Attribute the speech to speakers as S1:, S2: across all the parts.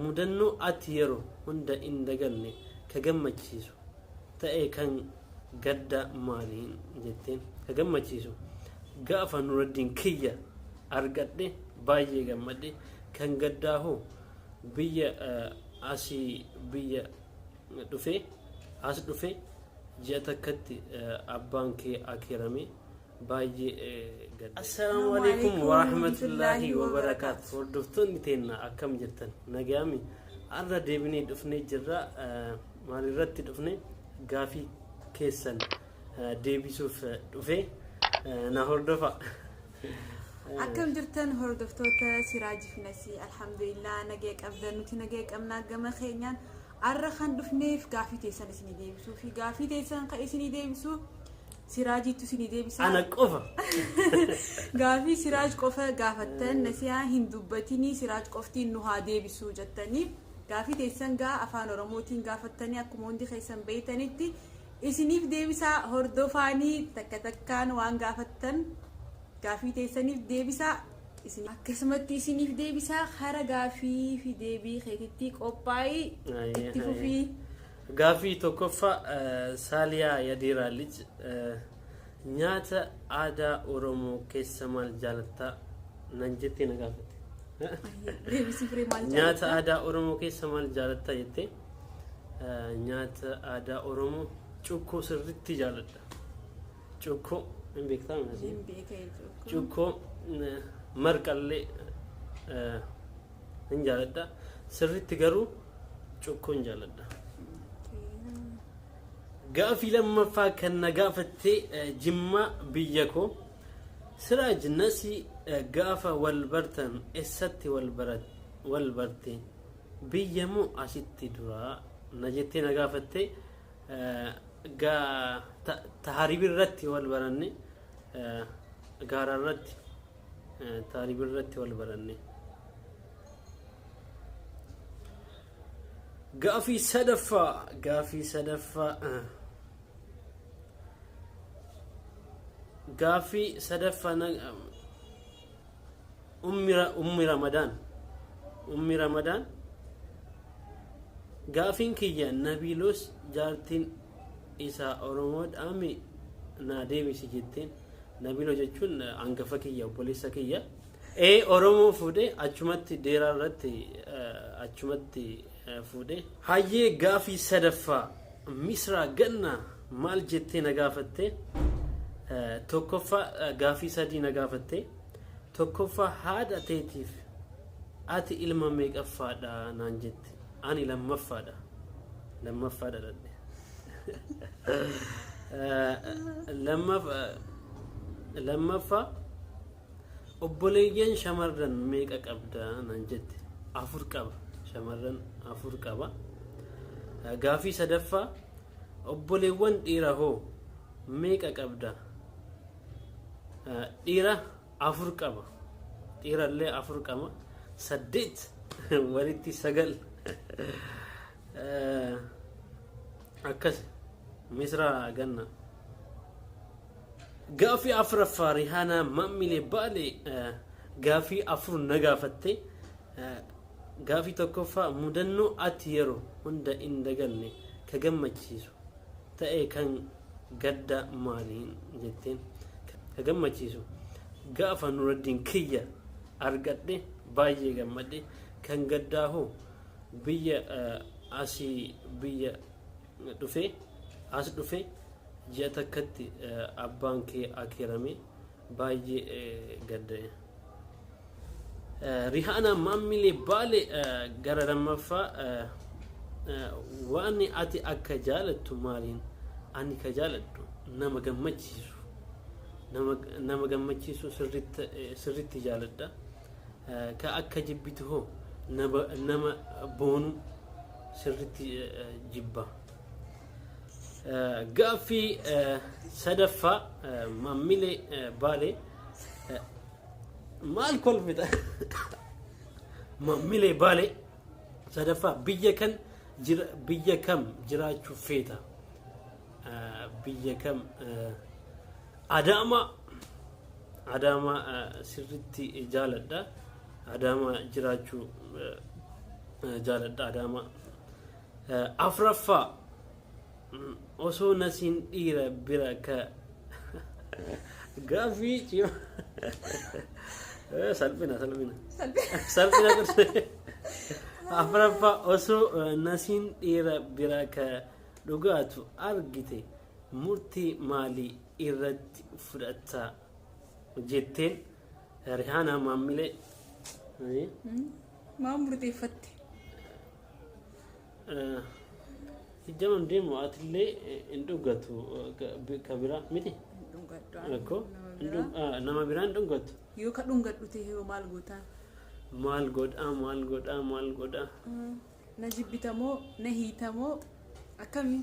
S1: Mudannoo ati yeroo hunda hin daganne ka gammachiisu ta'e kan gaddaa maali jetteen? Ka gammachiisu gaafa Nuraddiin kiyya argadhe baay'ee gammadde. Kan gaddaa hoo biyya asii biyya dhufee as dhufe ji'a takkatti abbaan kee akeeramee. baay'ee gadda. Assalaamu alaikum warahmatullaahi wabarakaatu. Hordoftoonni teenna akkam jirtan nagaami har'a deebinee dhufnee jirra maalirratti dhufne gaafii keessan deebisuuf dhufe na hordofa.
S2: Akkam jirtan hordoftoota Siraaj fi Nasii alhamdulillah nagaya qabdan nuti nagaya qabnaa gama keenyaan har'a kan dhufneef gaafii teessan isinii deebisuu fi gaafii teessan kan isinii deebisu Siraajiittu isinii deebisaa. Ana qofa. Gaafii Siraaj qofa gaafattan nasiyaa hin dubbatinii Siraaj qoftiin nu haa deebisuu jettanii gaafii teessan gaa afaan Oromootiin gaafattanii akkuma hundi keessan beeytanitti isiniif deebisaa hordofaanii takka takkaan waan gaafattan gaafii teessaniif deebisaa isin akkasumatti isiniif deebisaa hara gaafii fi deebii keetitti qophaa'ii Ayyee, itti ayyee. fufii. Gaaffii
S1: 1ffaa Saaliyaa Yadiiraa Lij Nyaata aadaa Oromoo keessa maal jaalatta? Nan jettee na gaafatte. Deebisii firee maal Nyaata jaalatta? aadaa Oromoo keessa maal jaalatta jettee? Eh, Nyaata aadaa Oromoo cukkoo sirriitti jaaladha. Cukkoo hin beektaa miti? Hin beekee cukkoo. Cukkoo eh, marqallee eh, hin jaaladha sirriitti garuu cukkoo hin jaaladha. Gaafii lammaffaa kan na gaafatte eh, jimmaa biyya koo siraaj nasi eh, gaafa wal bartan essatti wal barat- wal barte biyya moo asitti duraa na jettee na gaafatte eh, gaa- ta- taharib irratti wal baranne eh, gaara irratti Taalib irratti wal baranne. Gaafii sadaffaa gaafii sadaffaa gaafii sadaffaa ummi ramadaan ummi ramadaan gaafiin kiyya nabiilos jaartiin isaa oromoodhaami naa deebisi jetteen Nabilo jechuun angafa kiyya obboleessa kiyya. Ee Oromoo fuudhee achumatti deeraa irratti eh, achumatti eh, fuudhee. Hayyee gaafii sadaffaa misraa gannaa maal jettee na gaafatte? Eh, Tokkoffaa eh, gaafii sadii na gaafatte. Tokkoffaa haadha teetiif ati ilma meeqaffaadha naan jette. Ani lammaffaadha. Lammaffaa dhaladhe. Lammaffaa lammaffaa obboleeyyan shamarran meeqa qabda nan jette afur qaba shamarran afur qaba gaafii sadaffaa obboleewwan dhiira hoo meeqa qabda dhiira afur qaba dhiirallee afur qama saddeet walitti sagal Eh, akkas misraa ganna gaafii afuraffaa rihaanaa maammilee baale eh, gaafii afur na gaafatte Eh, gaafii tokkoffaa mudannoo ati yeroo hunda hin daganne ka gammachiisu ta'e kan gadda maali jetteen ka gammachiisu gaafa nuraddiin kiyya argadhe baay'ee gammadhe kan gaddaa hoo biyya asii biyya dhufe as dhufe ji'a takkatti abbaan kee akeerame baay'ee gadde. Rihaanaa maammilee baale gara lammaffaa waan ati akka jaalattu maaliin ani ka jaaladhu nama gammachiisu nama gammachiisu sirritti jaaladha ka akka jibbitu hoo nama boonu sirritti jibba. Gaaffii sadaffaa maammilee baalee maal kolfita maammilee baalee sadaffaa biyya kan biyya kam jiraachuu feeta biyya kam adaamaa adaamaa sirritti jaaladha adaamaa jiraachuu jaaladha adaamaa Afraffaa osoo nasiin dhiira bira ka gaaffii cima salphina salphina salphina turte afraffaa osoo nasiin dhiira bira ka dhugaatu argite murtii maalii irratti fudhatta jetteen rihaanaa maammilee
S2: Maaf murteeffatte?
S1: Hijjaman deemu atillee hin dhugatu ka biraa miti. Rakko nama biraa hin dhugatu. Yoo ka dhungadhu
S2: ta'e hoo maal gootaa? Maal
S1: godhaa maal godhaa maal godhaa.
S2: Na jibbitamoo na hiitamoo akkamii?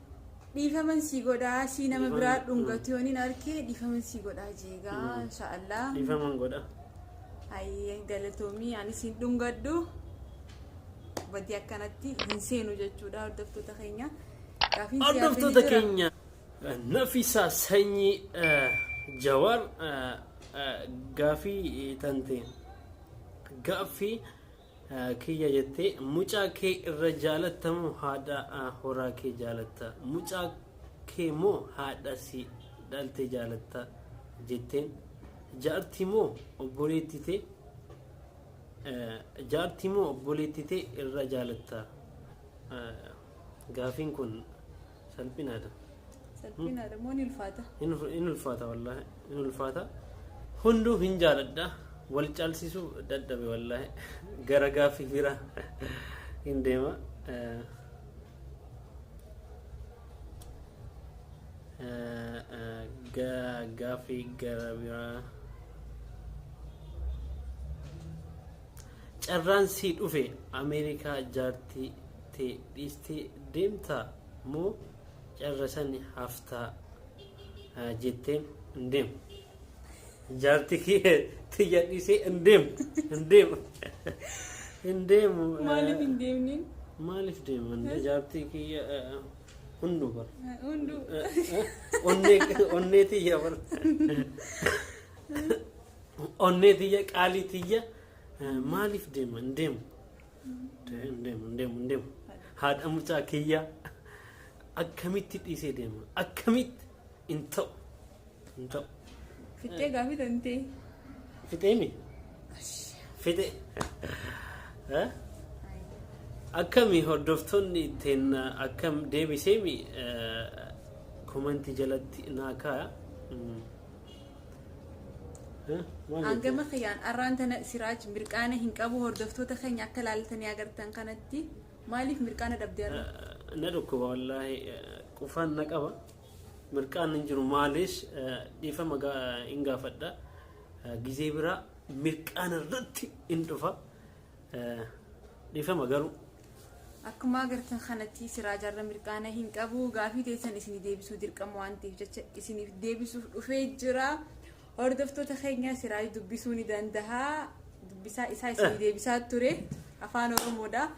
S2: Dhiifaman sii godhaa sii nama Dhiifama- biraa dhungatu yonin arkee dhiifaman sii godhaa jeegaa Mm. inshaallah Dhiifaman godha.
S1: hayyeen
S2: galatoomii ani siin dhungadhu badii akkanatti hin seenu jechuudha hordoftoota keenya Gaafiin siyaafii ni Hordoftoota
S1: jira. keenya eh, Nafisaa Sanyii eh, Jawaar eh, eh, gaafii eh, tante gaaffii kiyya jette mucaa kee irra jaalatta moo haadha horaa kee jaalatta mucaa kee moo haadha si dhalte jaalatta jetteen jaarti moo obboleetti tee jaarti moo obboleetti tee irra jaalatta gaafiin kun salphinaadha. Salphinaadha
S2: moo ni ulfaata? Hin ul- hin ulfaata
S1: wallaahi hin ulfaata hunduu hin jaaladha wal caalsisuu dadhabe wallaahi gara gaaffii bira hin deema. Eh, eh, eh, ga- Gaaffii gara biraa. Carraan sii dhufe America jaartii tee dhiistee deemtaa moo carra sani haftaa jetteen hin deemu. Jaartii kiyya tiyya dhiisee hin deemu hin deemu hin deemu.
S2: Maaliif hin deemne? Maaliif deeman
S1: jaartii kiyya hunduu bara. Hunduu.
S2: Onnee
S1: onnee tiyya bara. Onnee tiyya qaalii tiyya eh, maaliif deema hin deemu hin deemu hin deemu hin deemu haadha mucaa kiyya akkamitti dhiisee deema akkamitti hin ta'u hin ta'u
S2: Fittee gaafii tantee. fixeemi
S1: fixe Eh? akkami hordoftoonni ittiin akkam deebiseemi komantii jalatti naa kaaya Mm.
S2: Hangama kiyaan arraan tana Siraaj mirqaana hin qabu hordoftoota keenya akka laaltanii agartan kanatti maaliif mirqaana dhabde arra? Na dhukkuba
S1: wallaahi qufaan na qaba. Mirqaan hin jiru maaliis dhiifama hin gaafadha. Gizee biraa mirqaana irratti hin dhufa. Dhiifama garuu. Akkuma
S2: agartan kanatti siraajaarra mirqaana hin qabu gaafii teessan isin deebisuu dirqama waan ta'eef jecha isiniif deebisuuf dhufee jira. Hordoftoota keenya siraaj dubbisuu ni danda'a. Dubbisaa isaa isin deebisaa ture afaan Oromoodha.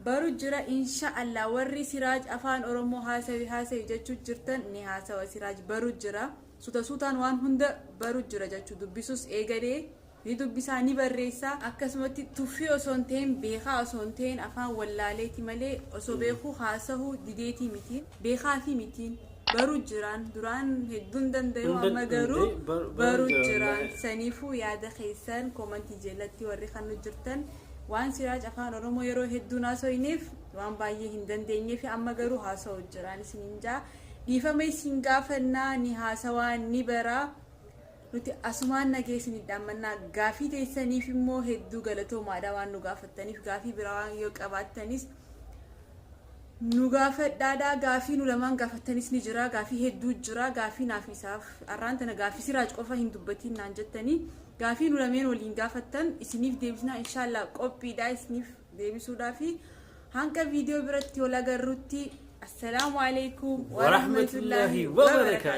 S2: Baru jira insha Allah warri siraaj afaan Oromoo haasawi haasawi jechuu jirtan ni haasawa siraaj baru jira. Suuta suutaan waan hunda baru jira jechuu dubbisuus eegalee. ni dubbisaa, ni barreessaa, akkasumatti tuffii osoo hin ta'iin, beekaa osoo hin ta'iin afaan wallaaleeti malee osoo beekuu haasahuu dideetii miti. Beekaafii miti. Baruu jiraan. Duraan hedduun danda'u Hunda amma garuu danda'e, bar- baruu baruu jira jiraan. wallahi. Saniifuu yaada keessan koomantii jalatti warri kan nu jirtan waan siraaj afaan oromoo yeroo hedduun haasoyneef waan baay'ee hin dandeenyee fi amma garuu haasa'u jiraan isiniin jaa dhiifama isin gaafannaa ni haasawaa ni baraa Nuti asumaan nagee isiniif dhaammannaa. Gaafii teessaniif immoo hedduu galatoomaadha waan nu gaafattaniif. Gaafii biraa waan yoo qabaattanis nu gaafadhaadha. Gaafii nu lamaan gaafattanis ni jira. Gaafii hedduu jira. Gaafii naaf isaaf har'aan tana gaafii siraaj qofa hin dubbatiin naan jettanii. Gaafii nu lameen waliin gaafattan isiniif deebisnaa inshaallah qophiidha isiniif deebisuudhaafi. Hanga viidiyoo biratti wal agarrutti assalaamu alaikum Warahmatullahi wabarakatuh.